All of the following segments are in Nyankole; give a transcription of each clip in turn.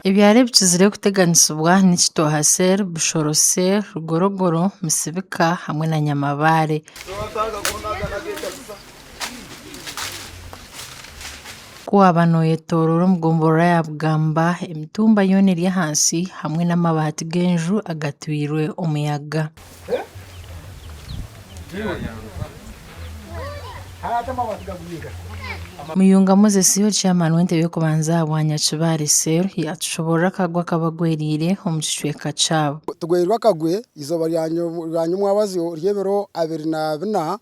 Ebyaro ebikizire kuteganisibwa ni Kitooha cell, Bushoro cell, Rugorogoro, Misibika hamwe na Nyamabaare. Ku waaba nooyetooroora omu gombolola ya Bugamba, emitumba yoona eri ahansi hamwe n'amabaati g'enju agatwirwe omuyaga. Muyunga Moses, ori chairman w'entebe y'okubanza aha bwanyakibaare cell, yaatushoboorora akagwe akaba gwereire omu kicweka kyabo. Tugwereirwe akagwe eizooba rya nyomwabazyo ry'ebiro abiri na bina,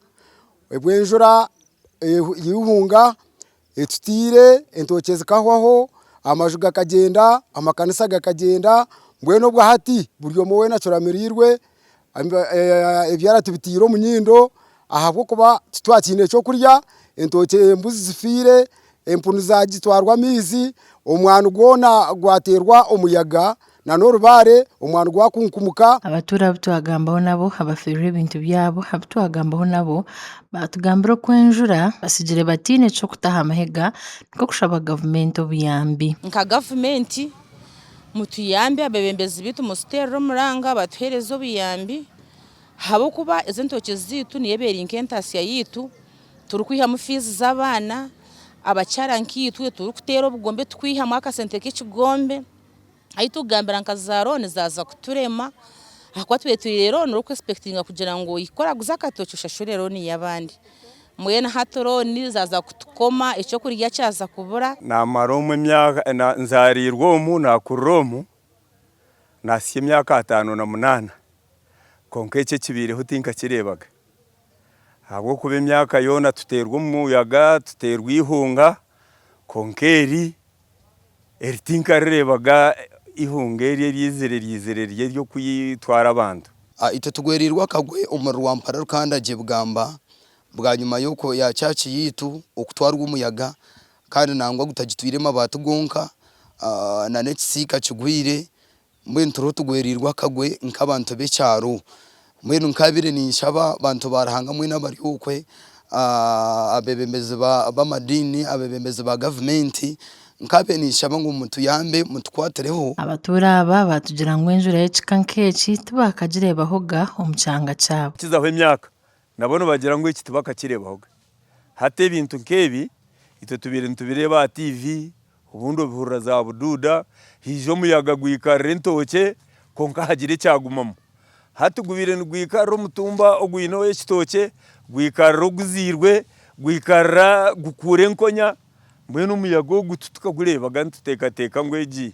obw'enjura yaihunga Etutaire, entookye zikahwaho, amaju gakagyenda, amakanisa gakagyenda, mbwenu obwo hati buri omwe weena acuramirwe ebyara tubitaire omu nyindo ahabw'okuba titwakiine eky'okurya, entookye, embuzi zifiire, empunu zaagitwarwa amaizi, omwani gwona gwateerwa omuyaga Na n'orubaare omwaani gwakunkumuka. Abatuura abu twagambaho nabo abafiirwe ebintu byabo abu twagambaho nabo baatugambira oku enjura batsigire bataine ky'okuta aha mahega nikwo kushaba gavumenti obuyambi. Nka gavumenti mutuyambe abebembezi baitu mututeerere omuranga batuheereze obuyambi ahabw'okuba ezi entookye zaitu niyo eba eri nk'entaatsya yaitu turikwihamu fiizi z'abaana, abakyara nkaitwe turikuteera obugombe turikwihamu akasente k'ekigombe. ahi turikugambira nka za rooni zaaza kuturema ahakuba twetwire rooni ori kwesipekitinga kugira ngu ohike oraguze akatookye oshashure rooni y'abandi. Mbwenu hati rooni zaaza kutukoma, eky'okurya kyaza kubura. Naamara omu emyaka, nzaariirwe omu, naakurira omu, naahitsya emyaka ataano na munaana. Kwonka eki ekibaireho tinkakireebaga. Ahabw'okuba emyaka yoona tuteirwe omuyaga, tuteirwe eihunga, kwonka eri. Eri tinkarireebaga eihunga eri eryaizire ryaizire riri ery'okutwara abantu. A Itwe tugwereirwe akagwe omuri Rwampara Rukandagye Bugamba bwanyima y'okwo ya church yaitu okutwarwa omuyaga kandi nangwa gutagitwire mabaati gonka a na n'ekisiika kigwire. Mbwenu turiho tugwereirwe akagwe nk'abantu b'ekyaro. Mbwenu nkaabire ninshaba bantu ba Ruhanga mwena abari okwe, abeebembezi b'amadiini, abeebembezi ba gavumenti, nkaabaire ninshaba ngu mutuyambe mutukwatireho. Abatuura aba baatugira ngu enjura y'ekika nk'eki tibaakagireebahoga omu kyanga kyabo. Kukizaho emyaka, Nabo nibagira ngu eki tibakakireebaho gye. Hati ebintu nk'ebi itwe tubaire nitubireeba aha tiivi, obundi obihurira zaabuduuda, haija omuyaga gwikarira entookye kwonka hagira ekyagumamu. Hati gubaire nigwikarira omutumba ogwineho ekitookye, gwikarira oguzairwe, gwikarira gukuura enkonya. Mbwenu omuyaga ogu titukagureebaga nituteekateeka ngu egi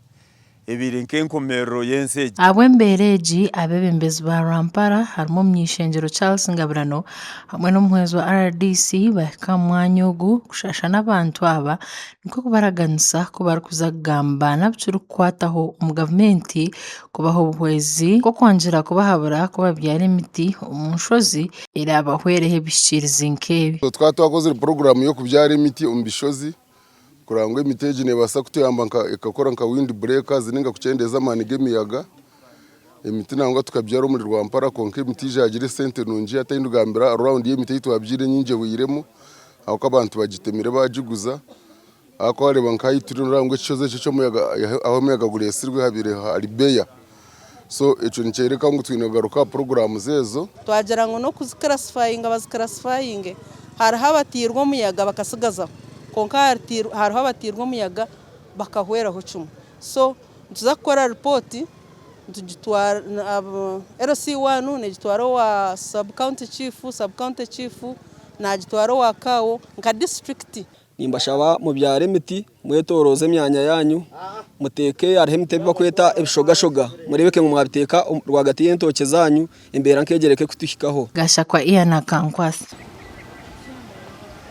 ebaire nk'enkomerero y'ensi egi. Ahabw'embeera egi, abeebembezi ba Rwampara harimu Omuny'ishengyero Charles Ngabirano hamwe n'omuhwezi wa rdc bahika aha mwanya ogu kushasha n'abantu aba nikwo kubaraganisa ku barikuza kugamba n'abu kirikukwataho omu gavumenti kubaha obuhwezi nk'okwangira kubahabura ku babyara emiti omu nshozi eraabahwereho ebihikirizi nk'ebi. Twaba twakozire puroguraamu y'okubyara emiti omu bishozi kureba ngu emiti egi neebaasa kutuyamba ekakora nka windi bureekazi nainga kukyendeeza amaani g'emiyaga. Emiti nangwa tukabyara omuri Rwampara kwonka emiti egi yaagira esente nungi hataine kugambira raawundi y'emiti ei twabyaire nyaingi ehweiremu ahabw'okuba abantu bagitemire baagiguza. Haza ku waareeba nka aha ituri nooreeba ngu ekishozi eki eky'omuyaga ahu omuyaga gureetsirwe habaire hari beya so ekyo nikyoreka ngu twine kugaruka aha puroguraamu ezo. Twagira ngu n'okuzikirasifayinga bazikirasifayinge hariho abatairwe omuyaga bakatsigazaho kwonka hariho abatairwe omuyaga bakahweraho kimwe so nituza kukora ripooti LC one negitwara owa sub county chief, sub county chief naagitwara owa CAO nka disiturikiti. Nimbashaba mubyare emiti mwetoroze emyanya yanyu muteke hariho emiti ebibakweta ebishogashoga murebeke ngu mwabiteka rwagati y'entookye zanyu embeera nk'egyo ereke kutuhikaho. Gashakwa Ian Akankwasa.